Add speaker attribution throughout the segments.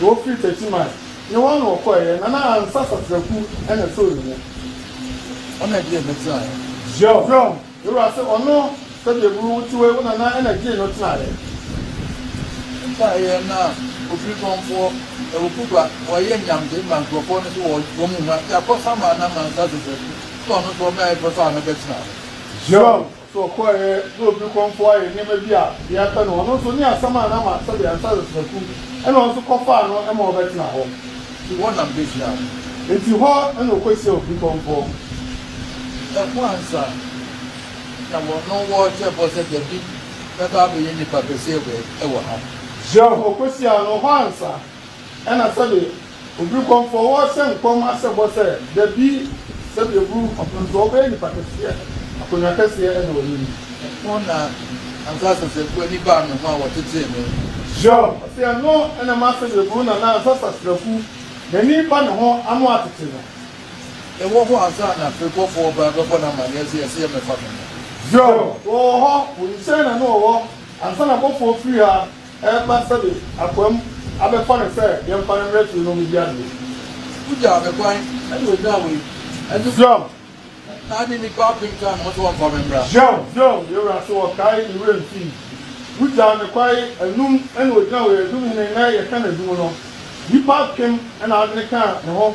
Speaker 1: Wɔfiri Betiman ne wɔn na wɔkɔeɛ, na na ansa satrakuo na ɛtoo ne ho.
Speaker 2: Ɔna ɛdeɛ a ɛbɛteaeɛ. Zion. Zion,
Speaker 1: me wura se ɔno, sɛdeɛ aburo wo teɛ wo nana na ɛgyee no tenaeɛ.
Speaker 2: Ɛbaeɛ na ɔfiri kɔmfoɔ, ɛwɔ Kuba, ɔyɛ nyamde ma nkurɔfoɔ no so wɔ wɔn mu ha, Yakɔ Sama na Mansa Josefu, se ɔno nso ɔmɛae pɛ sɛ ɔno bɛtena hɔ. Zion.
Speaker 1: So ɔkɔeɛ na obi kɔmfoɔ ayɛ nneɛma bi a deɛ ɛpɛ no, ɔno nso ne asɛm a na ama sɛdeɛ anhwɛ a Yosefatu na ɔno nso kɔfaa no ma ɔbɛtena hɔ. Nti hɔ na
Speaker 2: mekɔhyiaa wo. Nti hɔ
Speaker 1: na ɔkɔhyiaa obi kɔmfoɔ.
Speaker 2: Ɛhɔ ansa na wɔnom wɔrehyɛ bɔ sɛ Dabi bɛba abɛyɛ nnipa kɛseɛ wɔ ha. Kyerɛ,
Speaker 1: ɔkɔhyiaa no hɔ ansa. Ɛna sɛdeɛ obiri kɔmfoɔ wɔ sɛ nkɔm asɛ bɔ sɛ, Dabi, sɛdeɛ oburu kɔmfoɔ nso, ɔbɛyɛ nipa kɛseɛ, akonnwa kɛseɛ da w'anim. Ɛno na
Speaker 2: ansa asaseafoɔ ani baa me ho a wɔtetee me. Hiob, ɔse,
Speaker 1: Ɛno na ɛma sɛdeɛ oburu na na ansa asaseafu n'ani ba ne ho ano atete no. Ɛwɔ hɔ
Speaker 2: ansa na firebɔfoɔ ba bɛbɔ no amaneɛ sɛ, Ɛsɛ yɛmɛfa me ho. Hiob,
Speaker 1: Wɔwɔ hɔ, wɔnim sɛ na ne wɔwɔ ansa na abɔfoɔ firi ha Ɛreba sɛ me akoa mu abɛfa no sɛ yɛmfa no mmrɛ fie na ɔmmɛdi adeɛ. Wogyaa
Speaker 2: me kwan ɛna ɔnyaa wei ɛnso. Zion.
Speaker 1: Na ade
Speaker 2: nnipa apem kaa me ho sɛ wɔmfa me mmra. Zion, Zion, yɛn wura so
Speaker 1: ɔkae ne werɛ mfii. Wogyaa me kwan anum ɛna ɔgyina wei, adum hene na yɛka n'adum no. Nnipa apem ɛna adwene kaa ne ho.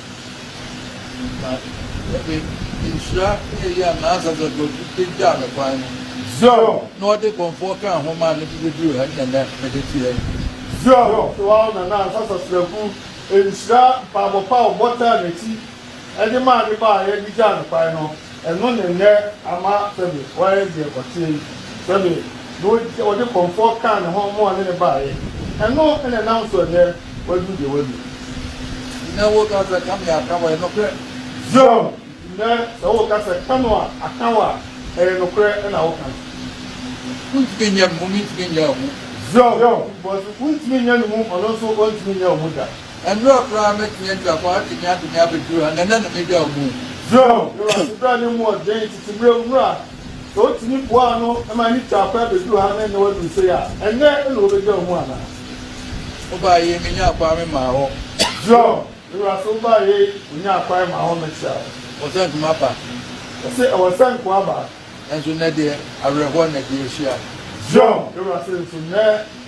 Speaker 1: Na
Speaker 2: ɔde nhyira ne eyi a n'ankasa dɔ nti de gyaa me kwan no. Zero. Na
Speaker 1: ɔde kɔmfoɔ
Speaker 2: kaa ho maa me de bɛduruu ha ne ɛnnɛ mede te ha yi. Zero.
Speaker 1: So wo ara na n'ankasa sraku nhyira mpaabɔ pa a ɔbɔ taa n'akyi de maa ne ba a yɛde gyaa no kwan no. Ɛno ne nnɛ ama Femi wayɛ deɛ ɔteɛ yi. Femi na ɔdi ɔde kɔmfoɔ kaa ne ho ma ɔne no baeɛ. Ɛno na ɛnam so ɛnnɛ waduru deɛ wadu. Nnɛ wo
Speaker 2: ka sɛ Kami aka wo a, ɛyɛ nokorɛ. Zion,
Speaker 1: nnɛ sɛ wo ka sɛ Kano a aka wo a, ɛyɛ nokorɛ na wo ka. Wontumi
Speaker 2: nyɛ me ho, mentumi nyɛ wo ho. Zion, because
Speaker 1: wontumi nyɛ ne mu, ɔno nso ɔntumi nyɛ wo ho da. Ɛnora koraa
Speaker 2: mɛtumi atwa kɔ atwene atwene abɛduru ha, na ɛnnɛ na mɛgya wo mu. Joel de w'ase
Speaker 1: bra ne mu ɔden tete mmerɛ mu a, sɛ wotumi boa ano ma ne twaa kɔ abɛduru ha na ɛnnɛ waduru sei a, ɛnnɛ na wɔbɛgya wo mu anaa?
Speaker 2: Wobaeɛ me nyaa kwan me maa hɔ. Joel,
Speaker 1: me wura sɛ wobaeɛ yi wo nyaa kwan maa hɔ mɛkyea wo. Wɔ sɛ nko maba.
Speaker 2: Ɔse ɛwɔ
Speaker 1: sɛ nko aba. Nanso nnɛ deɛ
Speaker 2: awerɛhoɔ na ɛde ahyia. Joel, me wura
Speaker 1: sɛ nso nnɛ.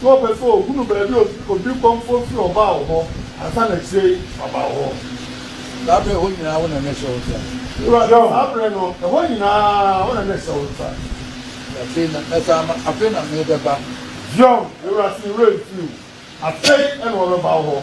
Speaker 1: So ɔpɛ sɛ ohunu baabi a obi kɔmfoɔ firi ɔbaa wo hɔ ansa na akyire yi waba wo hɔ? Saa berɛ a ɛhɔ
Speaker 2: nyinaa wo na mɛhyɛ wo nsa. Awurade ɔɔ,
Speaker 1: saa berɛ no ɛhɔ nyinaa wo na mɛhyɛ wo nsa. Afei na mɛsan
Speaker 2: aba, afei na merebɛba. Zion,
Speaker 1: Awurade ne werɛ mfiri wo, afei na ɔbɛba wo hɔ.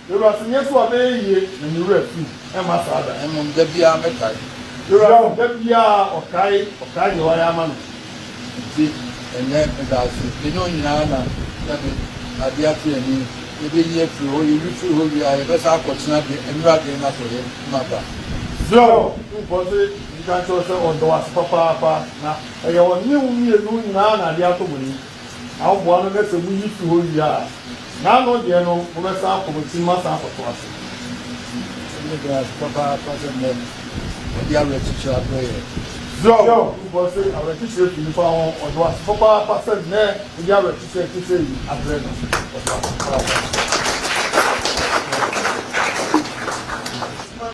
Speaker 2: Ewura
Speaker 1: se nyɛ so a bɛyɛ yie. Na ne wura firi mu mma saa da, mmom da biara mɛkae.
Speaker 2: Ewura no da
Speaker 1: biara ɔkae, ɔkae deɛ wayɛ ama no. Enti
Speaker 2: ɛnnɛ meda ase, me ne wo nyinaa na yɛde adeɛ ato yɛn ani, yɛbɛyi afiri hɔ, yɛyi firi hɔ wie a, yɛbɛsan akɔtena deɛ Ewura de na sɛ yɛn mma ba. Zerao
Speaker 1: tumfoɔ se menka nkyerɛ wo sɛ ɔdɔ wo ase papaapa, na ɛyɛ ɔne wo mmienu nyinaa na adeɛ atɔ mo ani. na woboa no na sɛ muyi fi hɔ wie a, n'ano deɛ no mobɛsan akɔ mo tirim asan akɔto ase. Ɛno yɛ dɛn ara so
Speaker 2: papaapa sɛ nnɛ wɔde awerɛkyekyerɛ abrɛ yɛn! Zion
Speaker 1: Kufoɔ se awerɛkyekyerɛ fi nnipa ho. Ɔde wo ase papaapa sɛ nnɛ wode awerɛkyekyerɛ a ɛte sɛɛ yi abrɛ no. Ɔde wo ase papaapa.